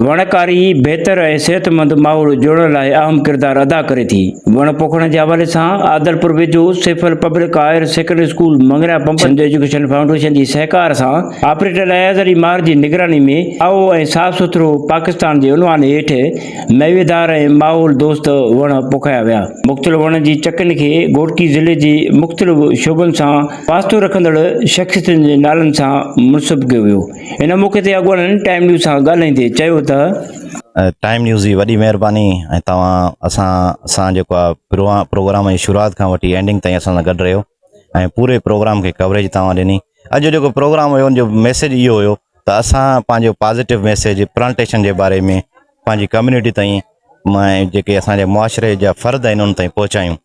وڻڪاري بهتر ۽ صحتمند ماحول جوڙڻ لاء اهم ڪردار ادا ڪري ٿي، وڻ پوکڻ جي حوالي سان عادلپور ويجهو سيفل پبلڪ هائير سيڪنڊري اسڪول مڱريا پمپ سنڌ ايجوڪيشن فائونڊيشن جي سهڪار سان آپريٽر اياز علي مار جي نگراني ۾ سائو ۽ صاف سٿرو پاڪستان جي عنوان هيٺ ميويدار ۽ ماحول دوست وڻ پوکايا ويا مختلف وڻن جي چڪن کي گهوٽڪي ضلعي جي مختلف شعبن سان واسطو رکندڙ شخصيتن جي نالن سان منسب ڪيو ويو. هن موقعي تي اڳواڻن ٽائيم نيوز سان ڳالهائيندي چيو ته. ٽائيم نيوز جي وڏي مهرباني ۽ توهان اسان سان جيڪو آ پروگرام جي شروعات کان وٺي اينڊنگ تائين اسان سان گڏ رهيو ۽ پوري پروگرام کي ڪوريج توهان ڏني اڄ جو جيڪو پروگرام هيو ان جو ميسيج اهو هيو ته اسان پنهنجو پازيٽو ميسيج پلانٽيشن جي باري ۾ پنهنجي ڪميونٽي تائين مان جيڪي اسان جي معاشري جا فرد آهن ان تائين پهچايون.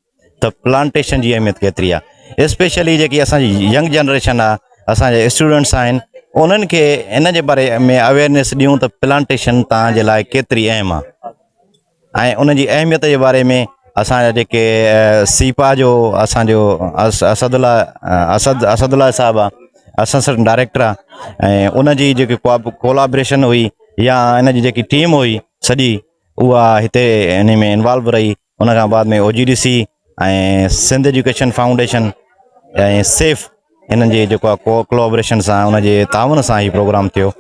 ته پلانٽيشن جي اهميت ڪيتري آ اسپيشلي جيڪي اسانجي ينگ جنريشن آ اسانجا اسٽوڊنٽس آهن انهن کي ان جي باري ۾ اويرنيس ڏيون ته پلانٽيشن تان جي لاء ڪيتري اهم آ ۽ ان جي اهميت جي باري ۾ اسانجا جيڪي سيپا جو اسانجو اسد الله اسد اسد الله صاحب آ اسسٽنٽ ڊائريڪٽر آ ۽ ان جي جيڪي ڪولابريشن هئي يا ان جي جيڪي ٽيم هئي سڄي اها هتي ان ۾ انوالو رهي ان کان بعد ۾ O G D C ۽ Sindh education foundation ۽ سيف انهن جي جيڪو ڪو ڪلابريشن سان ان جي تعاون سان هي پروگرام ٿيو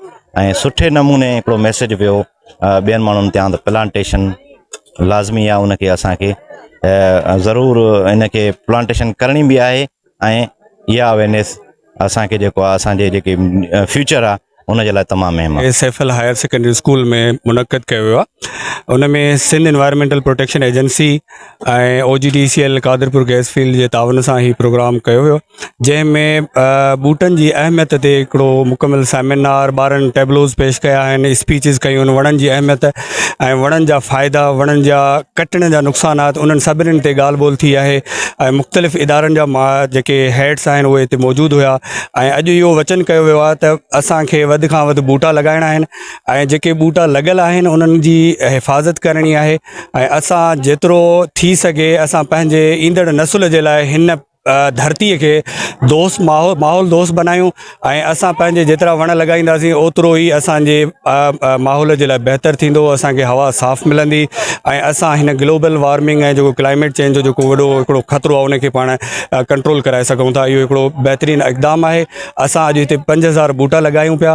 ۽ سٺي نموني هڪڙو ميسج ويو ٻين ماڻهن تيان ته پلانٽيشن لازمي آ ان کي اسان کي ضرور ان کي پلانٽيشن ڪرڻي به آهي ۽ اها اويرنيس اسان کي جيڪو آهي اسان جي جيڪي فيوچر آهي ان جي لاء تمام اهم آهي. S F L higher secondary school ۾ منعقد ڪيو ويو آهي ان ۾ Sindh environmental protection agency ۽ O G D C L Qadirpur gas field جي تعاون سان هي پروگرام ڪيو ويو جنهن ۾ ٻوٽن جي اهميت تي هڪڙو مڪمل سيمينار ٻارن ٽيبلوز پيش ڪيا آهن اسپيچز ڪيون وڻن جي اهميت ۽ وڻن جا فائدا وڻن جا ڪٽڻ جا نقصانات انهن سڀني تي ڳالهه ٻولهه ٿي آهي ۽ مختلف ادارن جا ما جيڪي هيڊس آهن اهي هتي موجود هيا ۽ اڄ اهو وچن ڪيو ويو آهي ته اسانکي وڌ کان وڌ ٻوٽا لڳائڻا آهن ۽ جيڪي ٻوٽا لڳل آهن انهن جي حفاظت ڪرڻي آهي ۽ اسان جيترو ٿي سگهي اسان پنهنجي ايندڙ نسل جي لاء هن ڌرتي کي دوست ماحول دوست بنايون ۽ اسان پنهنجي جيترا وڻ لڳائينداسين اوترو ئي اسان جي ماحول جي لاء بهتر ٿيندو اسان کي هوا صاف ملندي ۽ اسان هن گلوبل وارمنگ ۽ جيڪو ڪلائميٽ چينج جو جيڪو وڏو هڪڙو خطرو آهي ان کي پاڻ ڪنٽرول ڪرائي سگهون ٿا اهو هڪڙو بهترين اقدام آهي اسان اڄ هتي پنج هزار ٻوٽا لڳايون پيا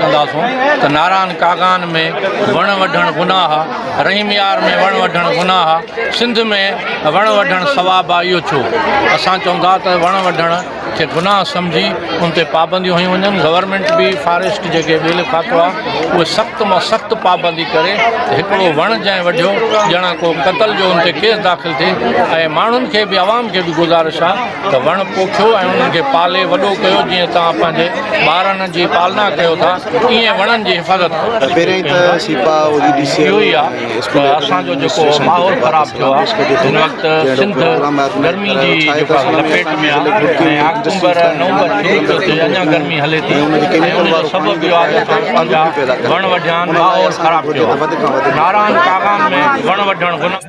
ڪنداسون ته ناران ڪاغان ۾ وڻ وڍڻ گناهه آ، رحيم يار ۾ وڻ وڍڻ گناهه آ، سنڌ ۾ وڻ وڍڻ ثواب آ اهو ڇو؟ اسان چئون ٿا ته وڻ وڍڻ کي گناهه سمجهي ان تي پابنديون هنيون وڃن، گورنمينٽ به فاريسٽ جيڪي ٻيلي کاتو آ اهي سخت مان سخت پابندي ڪري ته هڪڙو وڻ جنهن وڍيو ڄڻا ڪو قتل جو ان تي ڪيس داخل ٿئي ۽ ماڻهن کي به عوام کي به گذارش آ ته وڻ پوکيو ۽ انهن کي پالي وڏو ڪيو جيئن توهان پنهنجي ٻارن جي پالنا ڪيو ٿا ايئن وڻن جي حفاظت ڪريو اهو ئي آ ته اسان جو جيڪو ماحول خراب ٿيو آ هن وقت سنڌ گرمي جي جيڪا لپيٽ ۾ آ ۽ آڪٽومبر نومبر شروع ٿيو ٿي اڃان گرمي هلي ٿي ۽ ان جو سبب اهو آ ته اسان پنهنجا وڻ وڍيا آهن ماحول خراب ٿيو آ ناران ڪاغان ۾ وڻ وڍڻ گناهه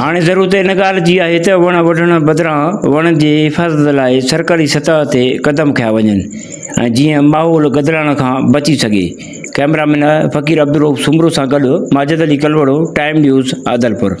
هاڻي ضرورت ان ڳالهه جي آهي ته وڻ وڍڻ بدران وڻن جي حفاظت لاء سرڪاري سطح تي قدم کنيا وڃن ۽ جيئن ماحول گدلائڻ کان بچي سگهي ڪئميرا مين فقير عبدالرؤف سومرو سان گڏ ماجد علي ڪلوڙو، ٽائيم نيوز، عادلپور.